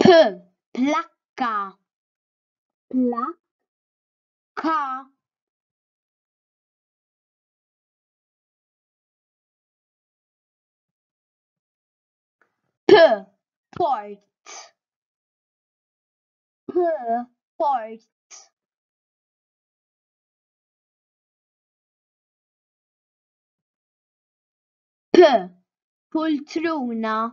P, plakka, plak, ka. P, port, p, port. P, pultruna,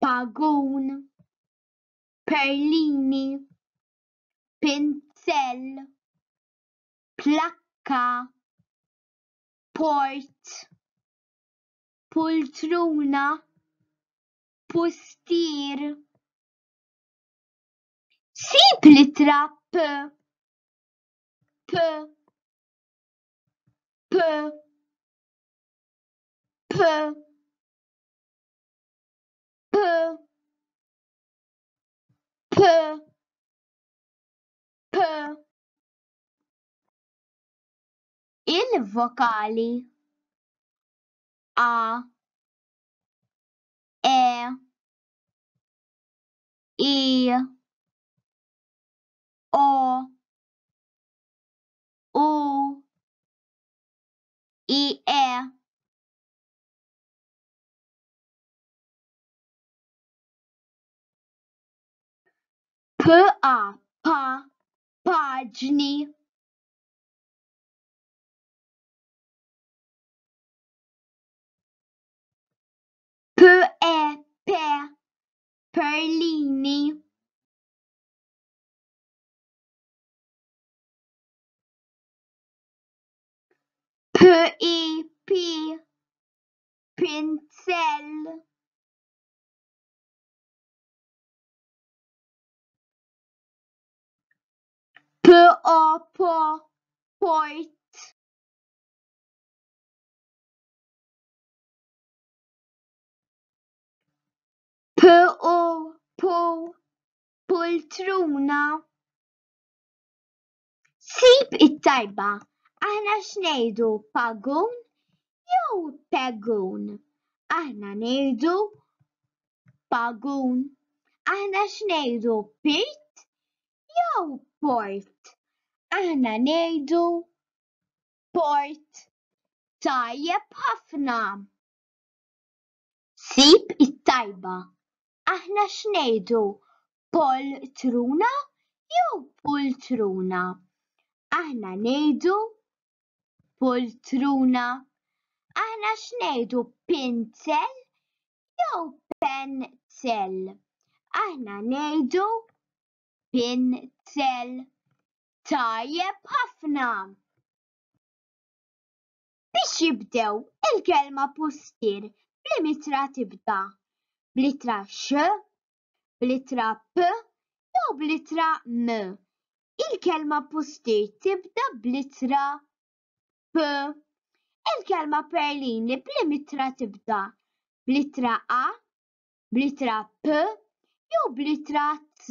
pagun, perlini, pinzell, plakka, port, pultruna, pustier. Sib l-ittra p, p, p, p. il-vokali A, E, I, O, U, I, E. PA pa paġni PE pe perlini PI pi pinzell PowerPoint PowerPoint Poltruna Sib it-tajba, aħna x'ngħidu pagun jew pegun? Aħna ngħidu pagun. Aħna x'ngħidu pirt jew port? Aħna ngħidu port. Tajjeb ħafna. Sib it-tajba, aħna x'ngħidu, pol truna jew pultruna? Aħna ngħidu pultruna. Aħna x'ngħidu pinzel jew penzel? Aħna ngħidu pinzel. Tajjeb ħafna! biex jibdew il-kelma pustier bl-imitra tibda bl-ittra x, bl-ittra p jew bl-ittra m. Il-kelma pustier tibda bl-ittra p. Il-kelma perlini bl-imitra tibda bl-ittra a, bl-ittra p jew bl-ittra z.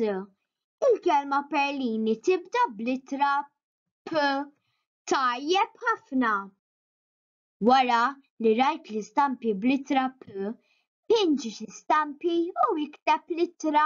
Il-kelma perlini tibda bl-ittra P. Tajjeb ħafna! Wara li rajt l-istampi bl-ittra P, pinġi xi stampi u ikteb l-ittra.